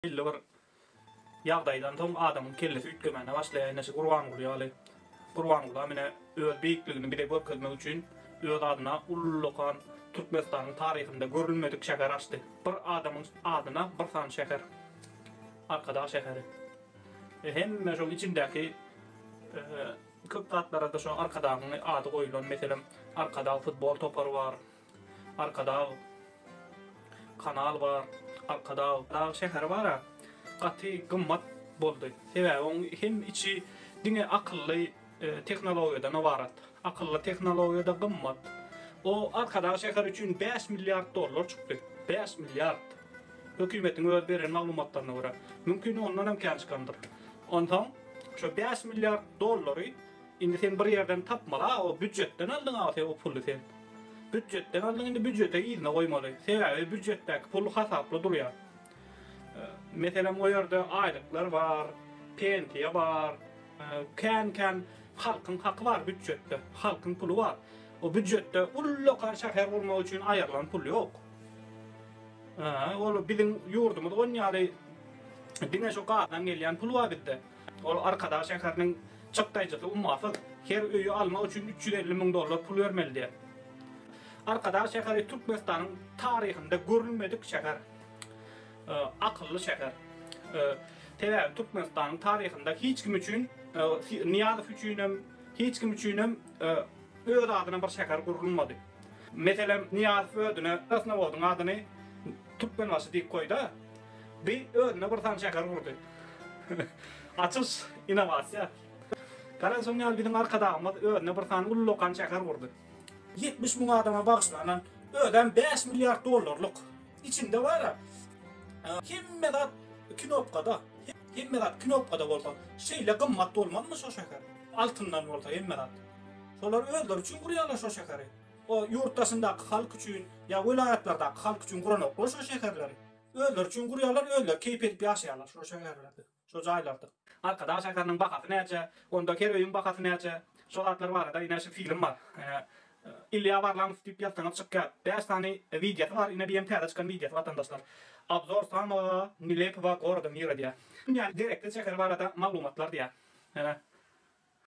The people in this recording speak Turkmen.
Belli bir ýagdaýdan soň adamyň kellesi üýtgemäne başlaýar, eneşi Gurbanguly ýaly. Gurbangulam ine öz beýikligini bize görkezmek üçin öz adyna ullakan Türkmenistanyň taryhynda görülmedik şäher açdy. Bir adamyň adyna bir sany şäher. Arkadag şäheri. E hemme şoň içindäki köp zatlara-da şo Arkadagyň ady goýulan. Meselem, Arkadag futbol topary bar. Arkadag kanal bar. Arkadag dag şäheri bara gaty gymmat boldy. Sebäbi oň hem içi diňe akylly tehnologiýadan ybarat. Akylly tehnologiýada gymmat. O Arkadag şäheri üçin bäş milliard dollar çykdy. Bäş milliard. Hökümetiň öz beren maglumatlaryna görä. Mümkin ondan hem kän çykandyr. Onsoň şo bäş milliard dollary Indi sen bir ýerden tapmaly a o býujetden aldyň a sen o puly sen býujetden aldyň indi býujete yzyna goýmaly sebäbi býujetdäki pul hasaply durýar meselem o ýerde aýlyklar bar pensiýa bar kän kän halkyň haky bar býujetde halkyň puly bar o býujetde ullakan şäher gurmak üçin aýrylan pul ýok ol biziň ýurdumyz on ýaly diňe şu gazdan gelýän pul bar bizde. Ol Arkadag şäheriniň çykdaýjysy ummasyz, her öýi almak üçin üç ýüz elli müň dollar pul bermeli diýýär. Arkadag şäheri Türkmenistanyň taryhynda görülmedik şäher, akylly şäher. Sebäbi Türkmenistanyň taryhynda hiç kim üçin, Nyýazow üçin hem, hiç kim üçin hem öz adyna bir şäher gurulmady. Meselem, Nyýazow özüne Krasnowodyň adyny Türkmenbaşy diýip goýda. Bi özüne bir sany şäher gurdy. Açyş, innowasiýa. Gara şoň ýaly biziň Arkadagymyz özüne bir sany uly lokan şäher gurdy. Ýetmiş müň adama bagyşlanan, özem bäş milliard dollarlyk. Içinde bar-a, hemme zat knopkada. Hemme zat knopkada bolsa, şeýle gymmat bolmazmy şo şäher? Altyndan bolsa hemme zat. Şolar özleri üçin gurýarlar şo şäheri. O ýurt daşyndaky halk üçin ýa welaýatlardaky halk üçin guranoklar şo şäherleri. Özleri üçin gurýarlar, özleri keýp edip ýaşaýarlar şo şäherlerde, şo jaýlarda. Arkadag şäheriniň bahasy näçe, onda her öýüň bahasy näçe, şo zatlar barada ine şu film bar. Ine Ilýa Warlamow diýip ýazsaňyz çykýar. Bäş sany wideosy bar, ine BM täze çykan wideosy watandaşlar. Obzor samoga nelepoga goroda mira diýýär. Dünýäniň gerekli şäheri barada maglumatlar diýýär. Ine.